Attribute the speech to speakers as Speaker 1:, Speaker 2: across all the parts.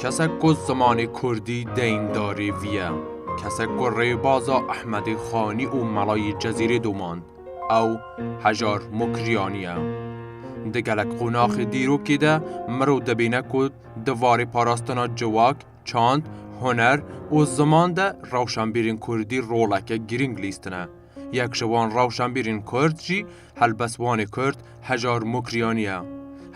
Speaker 1: Kesek ku zimanê kurdî deyndarê vî ye, kesek ku rêbaza Ehmedê Xanî û Melayê Cezîrê domand, ew Hejar Mukriyanî ye. Di gelek qonaxê dîrokê de mirov dibîne ku di varê parastina ciwak, çand, huner û ziman de rewşenbîrên kurdî roleke girîng lîstine. Yek ji wan rewşenbîrên Kurd jî helbestvanê Kurd Hejar Mukriyanî ye.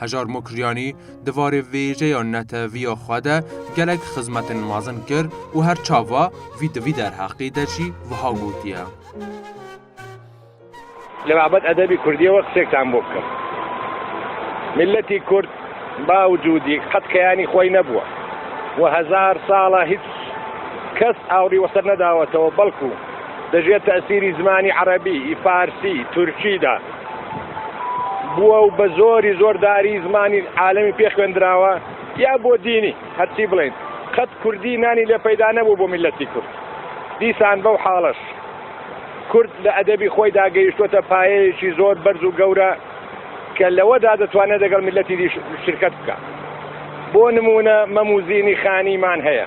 Speaker 1: Hejar Mukriyanî di varê vêjeya neteviya xwe de gelek xizmetên mezin kir û her çava vî di vî derheqê de jî wiha gotiye.
Speaker 2: Li babet edebî Kurdiyê we qisek tembû bikim. Miletî Kurd ba û cûdî qet keyanî xweyî nebûwe û hezar sal e hiç kes awirî weser nedawetewe belkû Dijî tesîrî zimanî erebî, farsî, tirkî de bûye û bi zorî zor darî zimanî alemî pê xwendirawa ya bo dînî. Her çî bilên, qet kurdî nanî lê peyda nebû bo mîletî kurd. Dîsan bew halaş. Kurd li edebî xwe de gehîştote payeyekî zor berz û gewre ke li we de ditwane degel mîletî dî şirket bike. Bo nimûne Memûzînî Xanî man heye.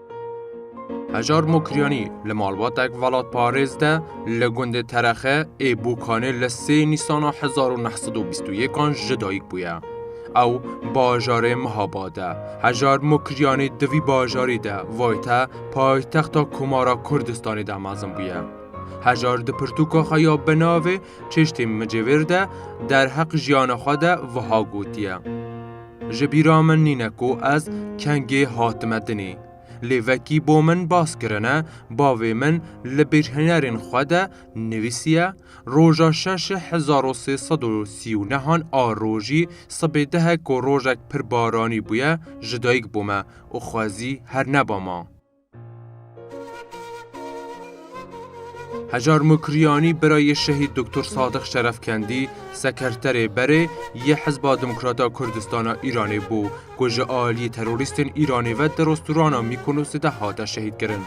Speaker 1: Hejar Mokriyanî li malbatek velatparêz de li gundê Terexe ê Bokanê li sê Nîsana hezar û neh sed û bîst û yekan ji dayik bûye. Ew bajarê Mihabad e. Hejar Mokriyanî di vî bajarî de vayte paytexta Komara Kurdistanê de mezin bûye. Hejar di pirtûka xwe ya bi navê Çeştên Micêvêr de derheq jiyana xwe de wiha gotiye. Ji bîra min nîne ku ez kengê hatime dinê. Lê vekî bo min bas kirine, bavê min li bîrhênerên xwe de nivîsiye, Roja şeşê hezar û sê sed û sî û nehan a rojî sibê dehek ku rojek pir baranî bûye ji dayik bûme û xwezî herne ba ma. Hejar Mukriyanî bira yê şehîd Doktor Sadiq Şerefkendî Sekreterê Berê yê Hizba Demokrat a Kurdistan a Îranê bû ku ji aliyê terorîstên Îranê ve di restorana Mîkonosê de hate şehîdkirin.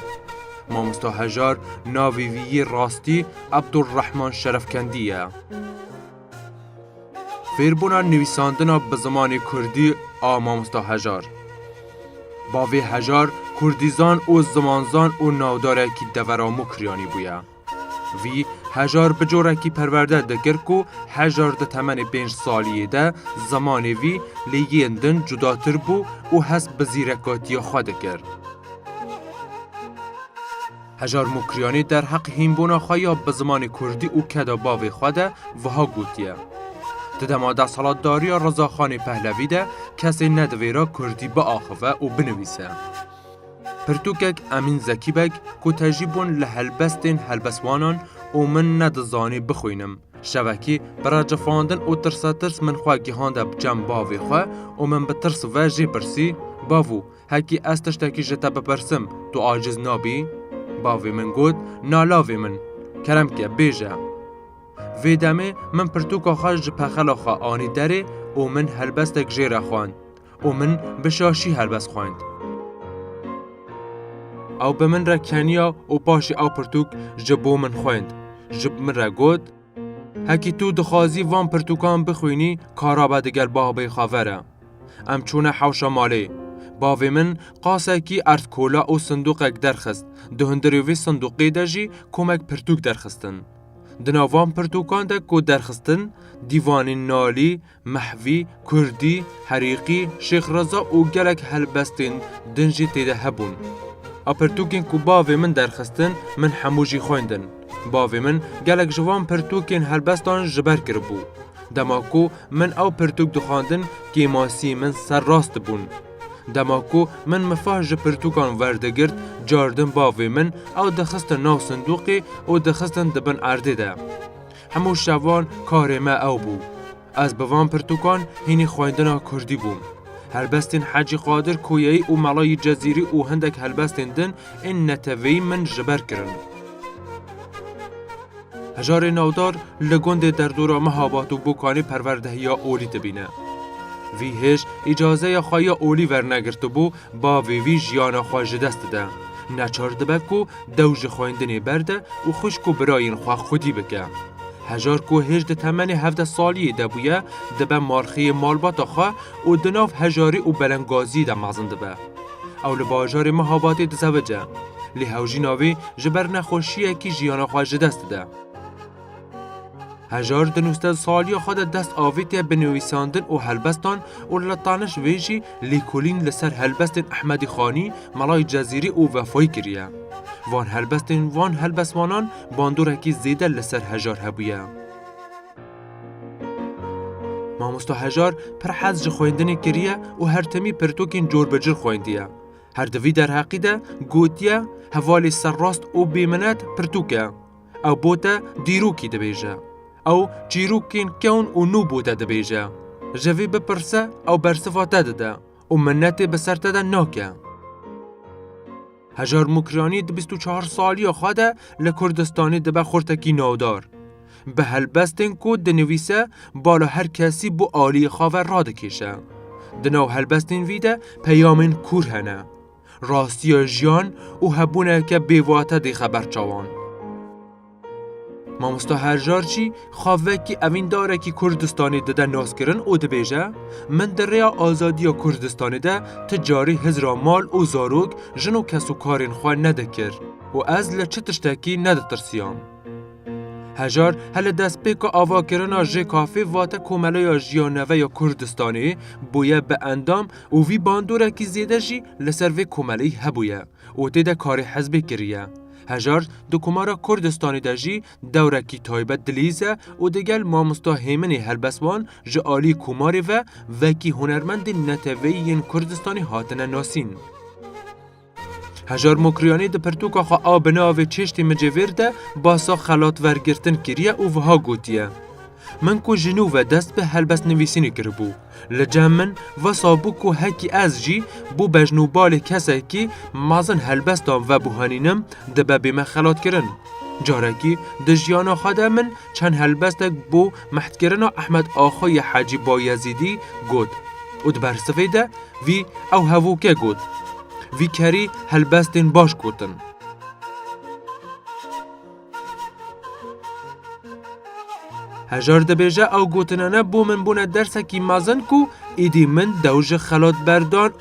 Speaker 1: Mamosta Hejar navê wî yê rastî Ebdulrehman Şerefkendî ye. Fêrbûna nivîsandina bi zimanê kurdî a mamosta Hejar. Bavê Hejar kurdîzan û zimanzan û navdarekî devera Mûkiryanî bûye. Vî Hejar bi corekî perwerde dikir ku Hejar di temenê pênc saliyê de zimanê vî lê yên din cudatir bû û hest bi zîrekatiya xwe dikir. Hejar Mukriyanî derheqê hînbûna xwe ya bi zimanê kurdî û keda bavê xwe de wiha gotiye, Di dema desthilatdariya Rizaxanê Pehlevî de kesê nedivêra kurdî biaxive û binivîse. Pirtûkek Emîn Zekî Beg ku tejî bûn li helbestên helbestwanan û min nedizanî bixwînim, şevekî bi recefandin û tirsetirs min xwe gihande bi cem bavê xwe û min bi tirs ve jê pirsî, Bavû, Hekî ez tiştekî ji te bipirsim, tu aciz nabî? Bavê min got, Na lavê min, kerem ke bêje. Vê demê min pirtûka xwe ji pexela xwe anî derê û min helbestek jê re xwend û min bi şaşî helbest xwend. Ew bi min re keniya û paşê ew pirtûk ji bo min xwend. Ji min re got. Hekî tu dixwazî van pirtûkan bixwînî kara be digel bavê xwe ve re. Em çûne hewşa malê. Bavê min qasekî erd kola û sinduqek derxist, di hundirê vê sinduqê de jî komek pirtûk derxistin. Di nav van pirtûkan de ku derxistin, dîvanên nalî, Mehvî, Kurdî, Herîqî, Şêx Reza û gelek helbestên din jî tê de hebûn. A pirtûkên ku bavê min derxistin min hemû jî xwendin. Bavê min gelek ji van pirtûkên helbestan ji ber kiribû. Dema ku min ew pirtûk dixwendin kêmasiyên min ser rast dibûn. Dema ku min mifah ji pirtûkan werdigirt caardin bavê min ew dixistin nav sindûqê û dixistin di bin erdê de. Hemû şevan karê me ew bû. Ez bi van pirtûkan hînî xwendina kurdî bûm. Helbestên Hecî Qadir Koyeyî û Mela yî Cezîrî û hindek helbestên din ên neteweyî min ji ber kirin. Hejarê navdar li gundê derdora Mihabat û Bokanê perwerdehiya olî dibîne. Vî hêj îcazeya xwe ya olî wernegirtibû Bavê wî jiyana xwe ji dest dide. Neçar dibe ku dew ji xwendinê berde û xwişk û birayên xwe xwedî bike. Hejar ku hêj di temenê hevdeh saliyê de bûye, dibe malxêyê malbata xwe û di nav hejarî û belengaziyê de mezin dibe. Ew li bajarê Mihabatê dizewice. Lê hewjîna wê ji ber nexweşiyekî jiyana xwe ji dest dide. Hejar di nûzdeh saliya xwe de dest avêtiye bi nivîsandin û helbestan û li taniş vê jî lêkolîn li ser helbestên Ehmedî Xanî, Melayê Cezîrî û Vefayî kiriye. Van helbestên van helbestvanan bandorekî zêde li ser Hejar hebûye. Mamosta Hejar pir hez ji xwendinê kiriye û her timî pirtûkên cor bi cor xwendiye. Her di vî derheqî de gotiye, Hevalê serrast û bêminet pirtûk e. Ew bo te dîrokî dibêje. Ew çîrokên kewn û nû bo te dibêje. Ji vê bipirse ew bersiva te dide û minnetê bi ser te de nake. Hejar Mûkriyanî di bîst û çar saliya xwe de li Kurdistanê dibe xurtekî navdar. Bi helbestên ku dinivîse bala her kesî bo aliyê xwe ve radikêşe. Di nav helbestên vî de peyamên kûr hene. rastiya jiyan û hebûneke bêwate dê xeber çawan. Mamosta Herjar jî xwe vekî evîndarekî Kurdistanê dide naskirin û dibêje, Min di rêya azadiya Kurdistanê de ti carî hizra mal û zarok, jin û kesûkarên xwe nedikir û ez li çi tiştekî neditirsiyam. Hejar he li destpêka avakirina JKF'ê vate Komeleya Jiya Neve ya Kurdistanê bûye bi endam Û vî bandorekî zêde jî li ser vê komeleyî hebûye û tê de karê hizbê kiriye. Hejar di Komara Kurdistanê de jî dewrekî taybet dilîz e û digel mamosta Hêminê Helbeswan ji aliyê Komarê ve wekî hunermendên neteweyî yên Kurdistanê hatine nasîn. Hejar Mokriyanî di pirtûka xwe a bi navê Çeştî Micêvêr de basa xelatvergirtin kiriye û wiha gotiye, Min ku ji nû ve dest bi helbestnivîsînê kiribû, li cem min wisa bû ku hekî ez jî bo bejn û balê kesekî mezin helbestan vebuhenînim dibe bîme xelatkirin. Carekî di jiyana xwe de min çend helbestek bo Mehdkirina Ehmed Axo yê Hecî Bayezîdî got û di bersivê de vî ew hevûke got, Vî kerî helbestên baş gotin. Hejar dibêje ew gotinene bo min bûne dersekî mezin ku êdî min dew ji xelatberdan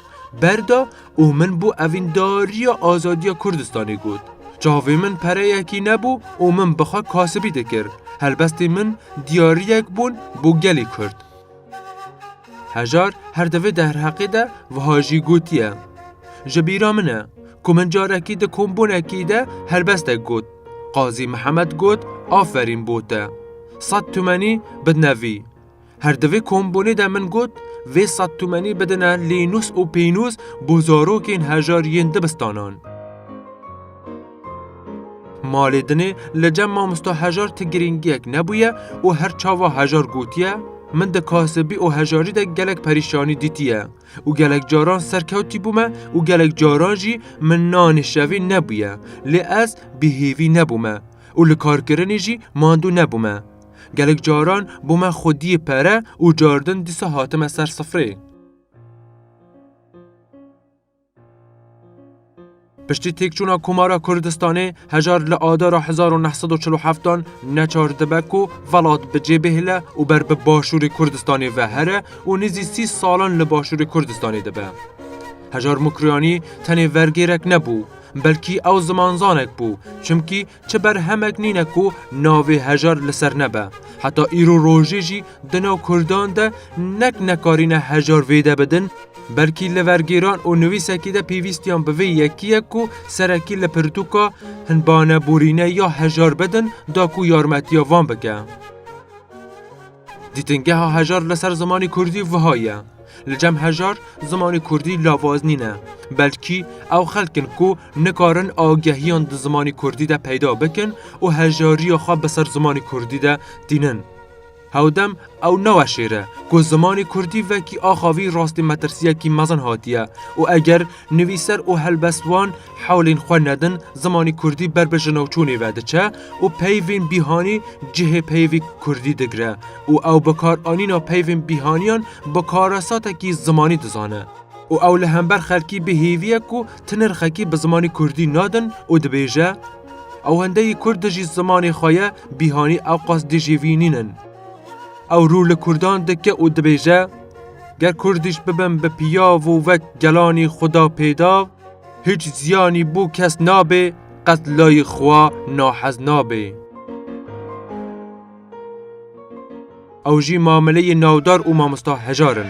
Speaker 1: ber da û min bû evîndariya azadiya Kurdistanê got. Çavê min pereyekî nebû û min bi xwe kasibî dikir. Helbestên min diyariyek bûn bo gelê Kurd. Hejar her di vê derheqê de wiha jî gotiye, Ji bîra min e ku min carekî di kombûnekî de helbestek got. Qazî Mihemed got, Aferîn bo te. Sed tumenî bidne vî. Her di vê kombûnê de min got vê sed tûmenî bidine lînûs û pînûs bo zarokên hejar yên dibistanan. Malê dinê li cem mamosta hejar ti girîngiyek nebûye û her çawa hejar gotiye, Min di kasibî û hejarî de gelek perîşanî dîtiye û gelek caran serkewtî bûme û gelek caran jî min nanê şevê nebûye lê ez bêhêvî nebûme û li karkirinê jî mandû nebûme. Gelek caran bo me xwediyê pere û cardin dîsa hatime ser sifrê. Piştî têkçûna Komara Kurdistanê hejar li Adara hezar û neh sed û çil û heftan neçar dibe ku velat bi cê bihile û ber bi Başûrê Kurdistanê ve here û nêzî sî salan li Başûrê Kurdistanê dibe. Hejar Mukriyanî tenê vergêrek nebû, belkî ew zimanzanek bû, çimkî Çi berhemek nîne ku navê hejar li ser nebe. Heta îro rojê jî di nav kurdan de nek nekarîne hejar vêde bidin, belkî li vergêran û nivîsekî de pêvîstiyan bi vê yekiyek ku serekî li pirtûka Hinbane borîne ya hejar bidin da ku yarmetiya van bike. Dîtingeha hejar li ser zimanê kurdî wiha ye, Li cem hejar zimanê kurdî lavaz nîne, belkî ew xelk in ku nikarin agehiyan di zimanê kurdî de peyda bikin û hejariya xwe bi ser zimanê kurdî de tînin. Hewdem ew naweşêre ku zimanê kurdî wekî axa vî rastî metirsiyekî mezin hatiye û eger Nivîser û helbestvan hewlên xwe nedin, zimanê kurdî ber bi jinavçûnê ve diçe û peyvên bîhanî cihê peyvê kurdî digire û ew bikaranîna peyvên bîhaniyan bi karesatekî zimanî dizane û ew li hember xelkî bi hêviyek û ti nirxekî bi zimanê kurdî nadin û dibêje, Ewendeyî kurd dijî zimanê xwe ye, bîhanî ew qas dijî vî nînin. Ew rû li kurdan dike û dibêje. Ger Kurdîş bibin bi piyav û wek gelanî xwe da pêdav, hiç ziyanî bo kes nabê, qet layî xwe nahez nabê. Ew jî mameleyê navdar û mamosta hejar in.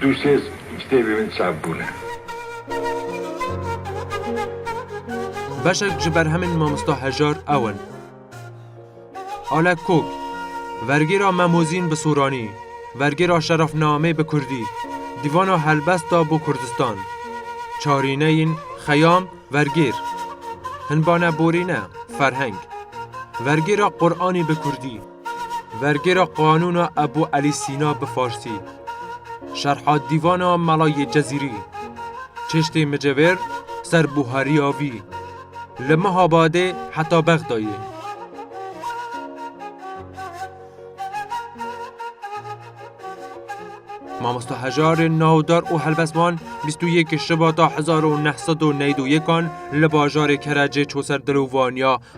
Speaker 3: Du sêz kitêbê
Speaker 1: min çap bûne. Beşek ji berhemên mamosta Hejar ew in. Alek Kok, Vergêra Memozîn bi Soranî, Vergêra Şerafnamê bi Kurdî, Dîvana Helbesta bo Kurdistan, Çarîneyên, Xeyam, Vergêr, Hinbane Borîne, Ferheng, Vergêra Quranî bi Kurdî, Vergêra qanûna Ebû Elî Sîna bi farsî, şerha dîvana Mela yê Cezîrî, çeştê micevêr ser buhariya vî li Mehabadê heta Bexdayê. Mamosta hejarên navdar û helbestvan bîst û yek Şibata hezar û neh sed û newîd û yekan li bajarê Kerecê çû ser dil û vaniya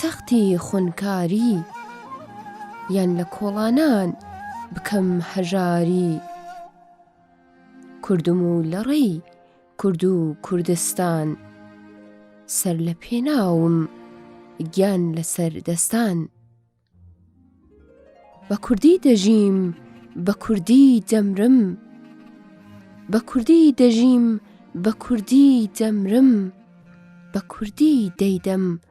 Speaker 4: Textê xwinkarî yan li kolanan bikim hejarî. Kurdim û li rey Kurd û Kurdistan. Ser li pê nawim giyan li ser destan. Bi kurdî dijîm bi kurdî demrim. Bi kurdî dijîm bi kurdî demrim. Bi kurdî deydem